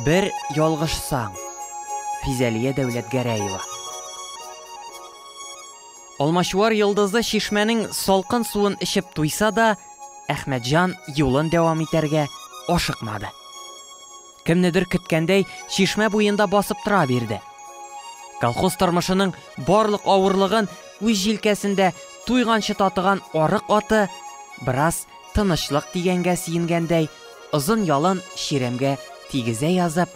Бер ялгышсаң. Физәлия Дәүләтгәрәева. Алмачуар йолдызы чишмәнең салкын суын эчеп туйса да, Әхмәтҗан юлын дәвам итәргә ашыкмады. Кемнедер көткәндәй, чишмә буенда басып тора бирде. Колхоз тормышының барлык авырлыгын үз җилкәсендә туйганчы татыган арык аты бераз тынычлык дигәнгә сөенгәндәй, озын ялын чирәмгә тигезә язып,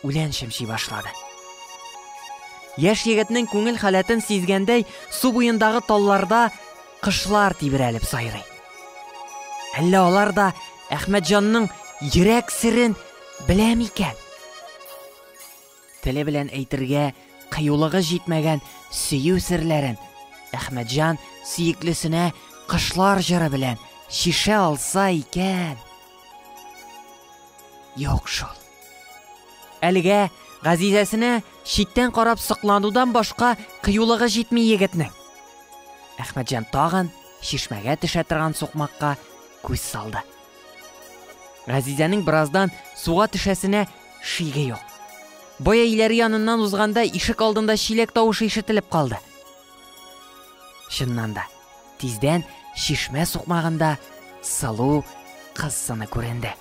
үлән чәмчи башлады. Яшь егетнең күңел халәтен сизгәндәй, су буендагы талларда кышлар тибрәлеп сайрый. Әллә алар да Әхмәтҗанның йөрәк серен белә микән? Теле белән әйтергә кыюлыгы җитмәгән сөю серләрен Әхмәтҗан сөеклесенә кышлар җыры белән чишә алса икән. Юк шул. Әлегә Газизәсенә читтән карап сокланудан башка кыюлыгы җитми егетнең. Әхмәтҗан тагын чишмәгә төшә торган сукмакка күз салды. Газизәнең бераздан суга төшәсенә шиге юк. Боя иләре яныннан узганда ишек алдында чиләк тавышы ишетелеп калды. Чыннан да, тиздән чишмә сукмагында сылу кыз сыны күренде.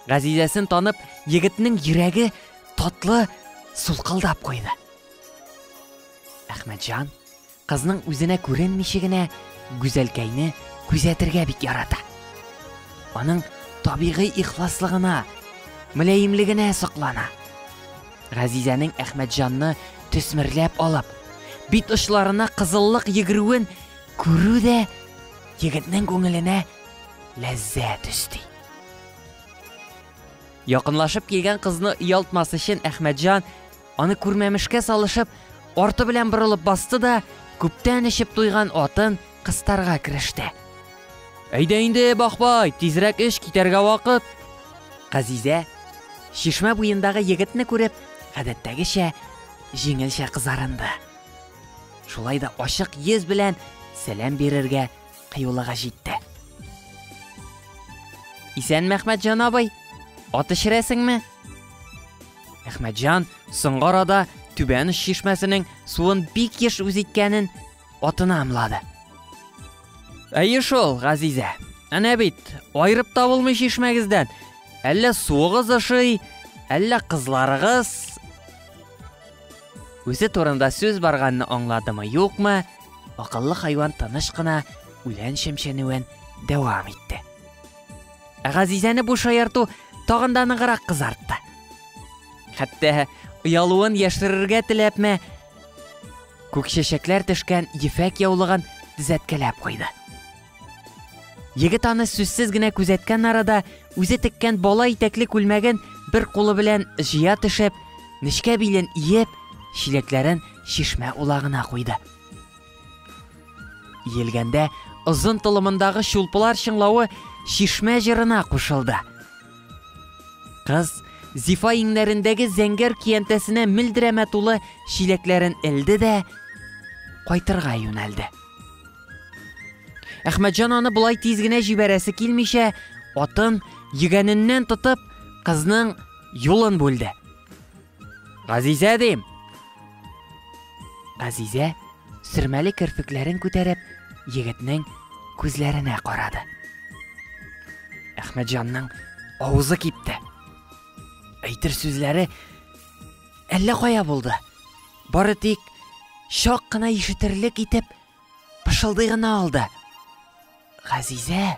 Газизәсен танып, егетнең йөрәге татлы сулкылдап куйды. Әхмәтҗан, Кызның үзенә күренмичә генә Гүзәлкәйне күзәтергә бик ярата. Аның табигый ихласлыгына, мөләемлегенә соклана. Газизәнең Әхмәтҗанны төсмерләп алып, бит очларына кызыллык йөгерүен күрү дә егетнең күңеленә ләззәт өсти. Якынлашып килгән кызны оялтмас өчен Әхмәтҗан Аны күрмәмешкә салышып, арты белән борылып басты да, күптән эчеп туйган атын кыстарга кереште. Әйдә инде, Бахбай, тизрәк эш китәргә вакыт. Газизә, чишмә буендагы егетне күреп, гадәттәгечә җиңелчә кызарынды. Шулай да ачык йөз белән сәлам бирергә кыюлыгы җитте. Исән Мәхмәт җан абый, ат эчерәсеңме? Әхмәтҗан соңгы арада Түбән Уч чишмәсенең суын бик еш үз иткәнен атына ымлады. Әйе шул, Газизә. Әнә бит, айырып та булмый чишмәгездән. Әллә суыгыз ошый, әллә кызларыгыз. Үзе турында сүз барганны аңладымы, юкмы? Акыллы хайван тыныч кына үлән чәмчәнүен дәвам итте. Ә Газизәне бу шаярту тагын да ныграк кызартты. Хәтта оялуын яшерергә теләпме, күк чәчәкләр төшкән ефәк яулыгын тезәткәләп куйды. Егет аны сүзсез генә күзәткән арада үзе теккән бала итәкле күлмәген бер кулы белән җыя төшеп, нечкә билен иеп, чиләкләрен чишмә улагына куйды. Елгәндә озын толымындагы чулпылар чыңлавы чишмә җырына кушылды. Кыз Зифа иңнәрендәге зәңгәр киянтәсенә милдерәмә тулы чиләкләрен элде дә кайтырга юнәлде. Әхмәтҗан аны болай тиз генә җибәрәсе килмичә, атын йөгәненнән тотып, кызның юлын бүлде. Газизә дим! Газизә, сөрмәле керфекләрен күтәреп, егетнең күзләренә карады. Әхмәтҗанның авызы кипте. Әйтер сүзләре әллә кая булды. Бары тик чак кына ишетерлек итеп пышылдый гына алды. Газизә!